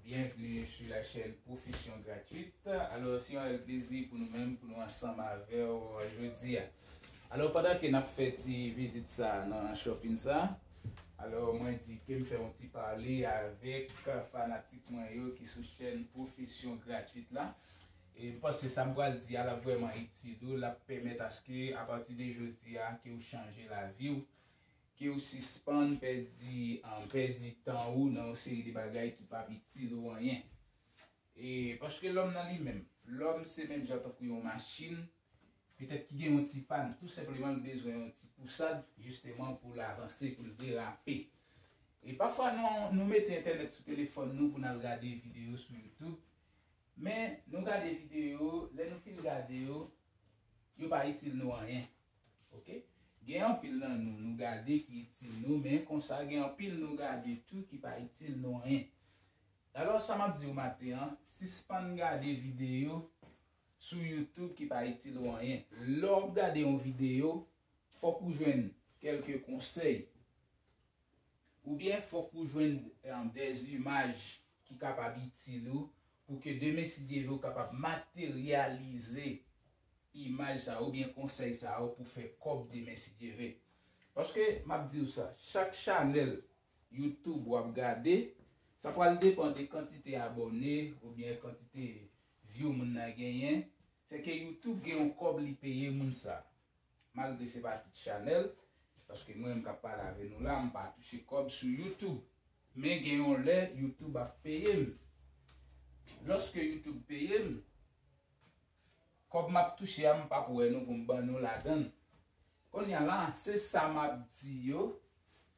Bienvenue sur la chaîne profession gratuite alors se yon rèl plezi pou nou menm pou nou ansanm avèw jodia alors pandan ke nap fè ti vizit sa nan shopping sa alors mwen di kem fè yon ti pale avèk fanatik mwen yo ki sou chaîne profession gratuite la e m panse sa m pral di a lap vrèman itil ou lap pèmèt aske apati de jodia ke ou chanje laviw Ke ou sispann pèdi pèdi tan ou nan yon seri de bagay ki pap itil ou anyen. E paske lòm nan li menm, lòm se menm jan tankou yon machin, petèt ki gen yon ti pàn, tou senpleman l bezwen yon ti pousad jisteman pou l avanse, pou l derape. E pafwa nou mete entènèt sou telefòn nou pou n al gade videyo sou youtube, men nou gade videyo, lè nou fin gade yo, yo pa itil nou anyen. Ok gen anpil nan nou nou gade ki itil nou men konsa gen anpil nou gade tou ki pa itil nou anyen alò sa map diw maten an sispann gade videyo sou youtube ki pa itil ou anyen lè wap gade yon videyo fòk ou jwenn kèlke konsèy oubyen fòk ou jwenn dè imaj ki kapab itil ou pou ke demen si Dye vle ou kapab materyalize imaj sa yo oubyen konsèy sa yo pou fè kòb demen si Dye ve. Paske map diw sa, chak chanèl YouTube wap gade, sa pral depan de kantite abòne oubyen kantite view moun nan genyen, se ke YouTube gen yon kòb li peye moun sa. Malgre se pa tout chanèl, paske mwen menm kap pale ave nou la, mpa touche kòb sou YouTube. Men gen yon lè YouTube ap peyem. Lòske YouTube peyem, Kob map touche a m pap wè nou pou m ban nou ladann. Konnya la, se sa map di yo,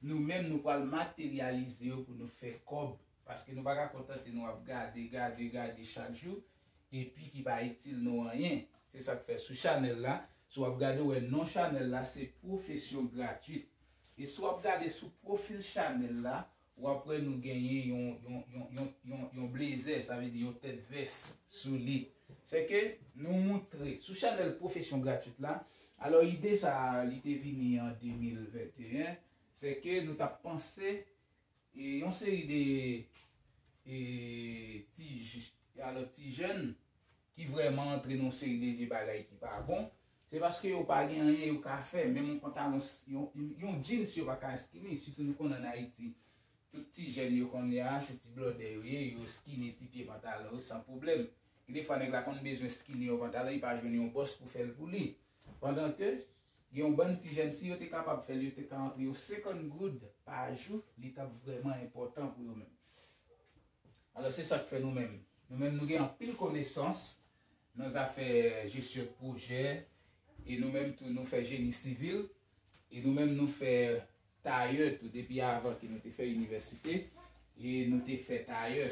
nou menm nou pral materyalize yo pou nou fè kob, paske nou pa ka kontante nou ap gade, gade, gade chak jou, epi ki pa itil nou anyen. Se sak fè sou chanèl la, si w ap gade ou wè non chanèl la se pwofesyon gratwit. E si w ap gade sou pwofil chanèl la, W ap wè nou genyen yon blezè, sa vle di yon tèt vès sou li. Se ke nou moutre sou chanèl Pwofesyon Gratwit la. Alò ide sa a li te vini an 2021. Se ke nou t ap panse yon seri de ti jèn ki vrèman antre nan yon seri de vye bagay ki pa bon, se paske yo pa gen anyen yo ka fè, menm yon pantalon, yon jeans yo pa ka eskini, sitou nou konnen an Ayiti, tout ti jèn yo kounye a, se ti blòdè yo ye, yo eskini ti pye pantalon yo san pwoblèm. Gen de fwa nèg la konn bezwen eskini yon pantalon, li pa jwenn yon bòs pou fè l pou li. Pandan ke, gen yon bann ti jèn, si yo te kapab fè l, yo te ka antre yo 50 goud pa jou, li t ap vrèman enpòtan pou yo menm. Alò se sa k fè nou menm. Nou menm nou gen anpil konesans nan zafè jesyon pwojè e nou menm tou nou fè jeni sivil e nou menm nou fè tayè tou depi avan ke nou te fè inivèsite e nou te fè tayè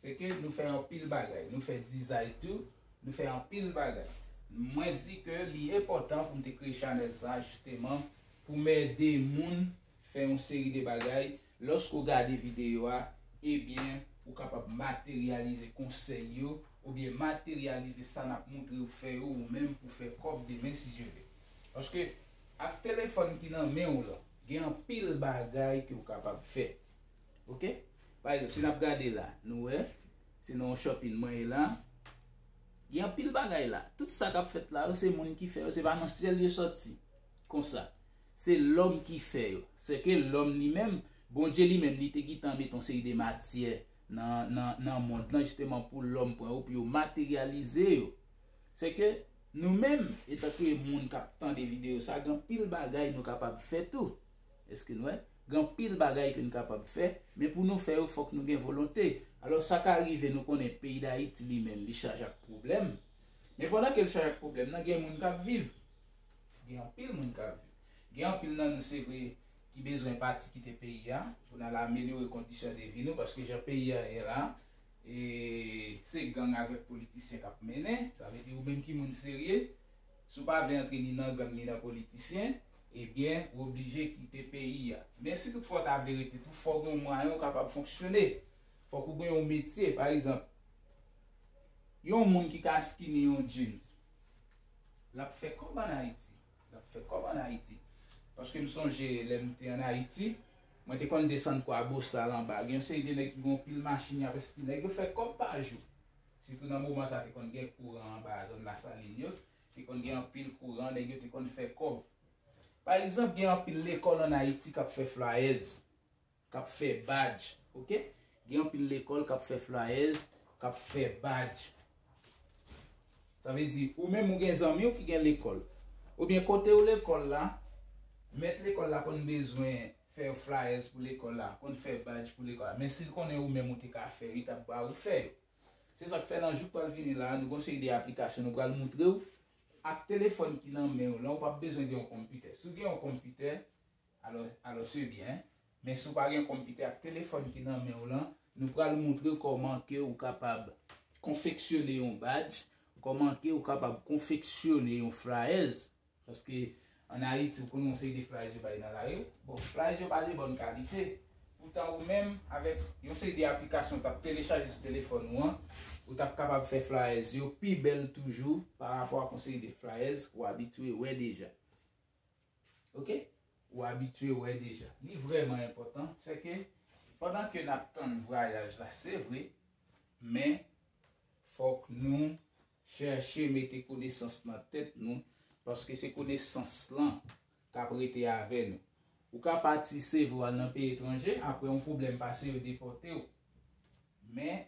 se ke nou fè anpil bagay nou fè dizay tou nou fè anpil bagay mwen di ke li enpòtan pou m te kreye chanèl sa jisteman pou m ede moun fè yon seri de bagay Lòske w gade videyo a, ebyen ou kapab materyalize konsèy yo oubyen materyalize sa n ap montre w fè yo ou menm pou fè kòb demen si Dye vle. Paske ak telefòn ki nan men w lan, gen anpil bagay ke w kapab fè. Ok, pa egzanp si n ap gade la, nou wè se nan yon shopping mwen ye la, gen anpil bagay la, tout sa k ap fèt la yo se moun ki fè yo, se pa nan syèl yo sòti konsa. Se lòm ki fè yo. Sèke lòm li menm, Bondye li menm, li te gitan mete yon seri de matyè nan, nan, nan mond lan jisteman pou lòm pran yo, pou yo materyalize yo. Sèke nou menm, etanke moun k ap tande videyo sa, gen anpil bagay nou kapab fè tou. Èske nou wè? Gen anpil bagay ke nou kapab fè, men pou nou fè yo fòk nou gen volonte. Alò sa ka rive nou konnen peyi Dayiti li menm li chaje ak pwoblèm, men pandan ke l chaje ak pwoblèm nan gen moun k ap viv. Gen anpil moun k ap viv. Gen anpil nan nou se vre ki bezwen pati kite peyi a pou n al amelyore kondisyon de vi nou paske jan peyi a ye la se gang avèk politisyen k ap mennen. Sa vle di ou menm ki moun serye si w pa vle antre ni nan gang ni nan politisyen ebyen ou oblije kite peyi a. Men si tout fwa w ta vle rete tou fò w gen yon mwayen ou kapab fonksyone. Fòk ou gen yon metye. Pa egzanp, yon moun ki ka skini yon djins L ap fè kòb ann Ayiti. L ap fè kòb ann Ayiti. Paske m sonje lè m te ann Ayiti, mwen te konn desann Kwa Bosal anba. Gen yon seri de nèg ki gen yon pil machin y ap esti. Nèg yo fè kòb pa jou. Sitou nan moman sa a te konn gen kouran anba zòn Lasalin yo. Te konn gen anpil kouran. Nèg yo te konn fè kòb. Pa egzanp, gen anpil lekòl ann Ayiti k ap fè flayèz. Kap fè badj ok. Gen anpil lekòl kap fè flyers, kap fè badj. Sa vle di ou menm ou gen zanmi w ki gen lekòl. Oubyen kote w lekòl la, mèt lekòl la konn bezwen fè yon flyers pou lekòl la, konn fè badj pou lekòl la. Men si l konnen ou menm ou te ka fè yo, li tap ba ou fè yo. Se sak fè nan jou k pral vini la, nou gen yon seri de aplikasyon nou pral montre w ak telefòn ki nan men w lan, ou pap bezwen gen yon konpitè. Si w gen yon konpitè, Alò se byen, men si w pa gen konpitè ak telefòn ki nan men w lan, nou pral moutre kòman ke ou kapab konfeksyone yon badj, kòman ke ou kapab konfeksyone yon flayèz, paske an Ayiti ou konnen yon seri de flayèz yo bay nan lari, bon flayèz yo pa de bòn kalite, poutan ou menm avèk yon seri de aplikasyon ou t ap telechaje sou telefòn ou an, ou t ap kapab fè flayèz yo pi bèl toujou parapò ak yon seri de flayèz ou abitye wè deja. Ok ou abitye wè deja. Li vrèman enpòtan se ke pandan ke nap tann vwayaj la se vre men fòk nou chèche mete konesans nan tèt nou paske se konesans lan kap rete avè nou. Ou ka pati se vre ou al nan peyi etranje apre yon pwoblèm pase yo depòte ou. Men,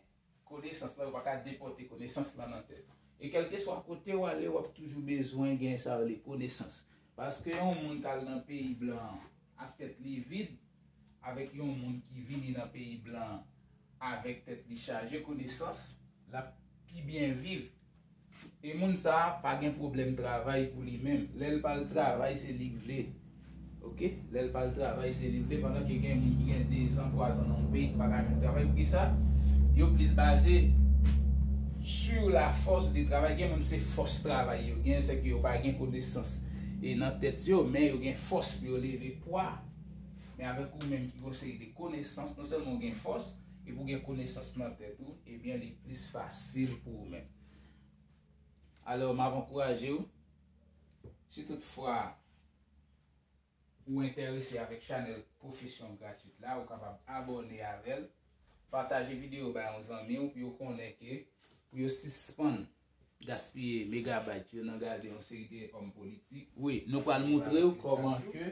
konesans lan, yo pa ka depòte konesans lan nan tèt ou. E kèlkeswa kote w ale, w ap toujou bezwen gen sa yo rele konesans. Paske yon moun k al nan peyi blan an ak tèt li vid, avèk yon moun ki vini nan peyi blan an avèk tèt li chaje konesans, l ap pi byen viv. E moun sa pa gen pwoblèm travay pou li menm, lèl pa al travay se lik vle ok, lèl pa al travay se li vle pandan ke gen moun ki gen 2 zan 3 zan nan yon peyi ki pa ka menm travay pou kisa yo plis baze sur la force de travail gen moun se fòs travay yo gen se ke yo pa gen konesans e nan tèt yo men yo gen fòs pou yo leve pwa men avèk ou menm ki gen yon seri de konesans non sèlman ou gen fòs Depi w gen konesans nan tèt ou, ebyen li plis fasil pou ou menm. Alò, m ap ankouraje w, si tout fwa ou enterese avèk chanèl Profession Gratuite la, ou kapab abòne avè l, pataje videyo bay yon zanmi w pou yo konnen ke pou yo sispann gaspiye megabayt yo nan gade yon seri de òm politik. Wi, nou pral moutre w kòman ke